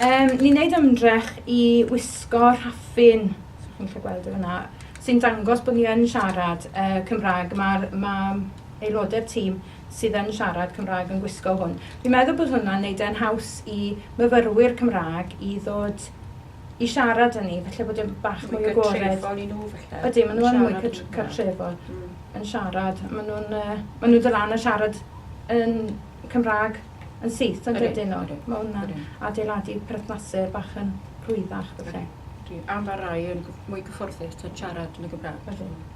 Um, ni'n neud ymdrech i wisgo rhaffin, chi'n gallu gweld yna, sy'n dangos bod ni yn siarad uh, Cymraeg. Mae'r ma aelodau'r tîm sydd yn siarad Cymraeg yn gwisgo hwn. Fi'n meddwl bod hwnna'n neud e'n haws i myfyrwyr Cymraeg i ddod i siarad â ni, falle bod e'n bach mwy agored. Mwy cartrefol i nhw falle. Ydy, maen nhw yn mwy cartrefol mm. yn siarad. Maen nhw'n uh, maen nhw'n dylan yn siarad yn Cymraeg yn syth yn dydyn nhw. Mae hwnna'n adeiladu perthnasau bach yn rhwyddach falle. Am far rai yn mwy cyfforddus yn siarad yn y Gymraeg. Ydy.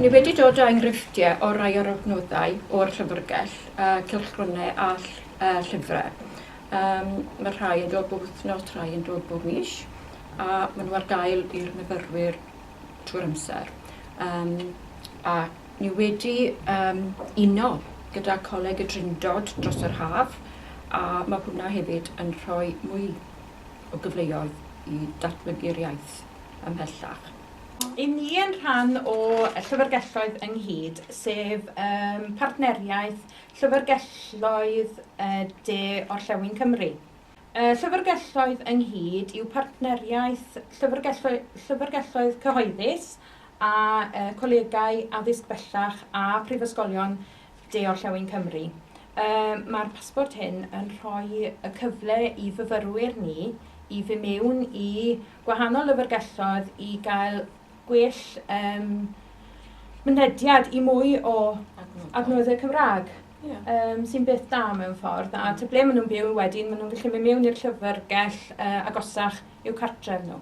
Ni wedi dod â enghreifftiau o rai o'r adnoddau o'r llyfrgell, a cylchgronau a llyfrau. Um, mae rhai yn dod bob wythnos, rhai yn dod bob mis, a maen nhw ar gael i'r myfyrwyr trwy'r amser. Um, ac Ni wedi yym uno gyda Coleg y Drindod dros yr haf a ma' hwnna hefyd yn rhoi mwy o gyfleoedd i datblygu'r iaith ymhellach. I ni yn rhan o Llyfrgelloedd Ynghyd, sef yym partneriaeth llyfrgelloedd de orllewin Cymru, Y Llyfrgelloedd ynghyd yw partneriaeth llyfrgelloedd cyhoeddus a cholegau addysg bellach a phrifysgolion de-orllewin Cymru. Mae'r pasbort hyn yn rhoi y cyfle i fyfyrwyr ni i fy mewn i gwahanol lyfrgelloedd i gael gwell um, mynediad i mwy o adnoddau Cymraeg. Yeah. Um, sy'n beth da mewn ffordd, a ty ble maen nhw'n byw wedyn, maen nhw'n gallu mynd mewn i'r llyfrgell uh, agosach i'w cartref nhw.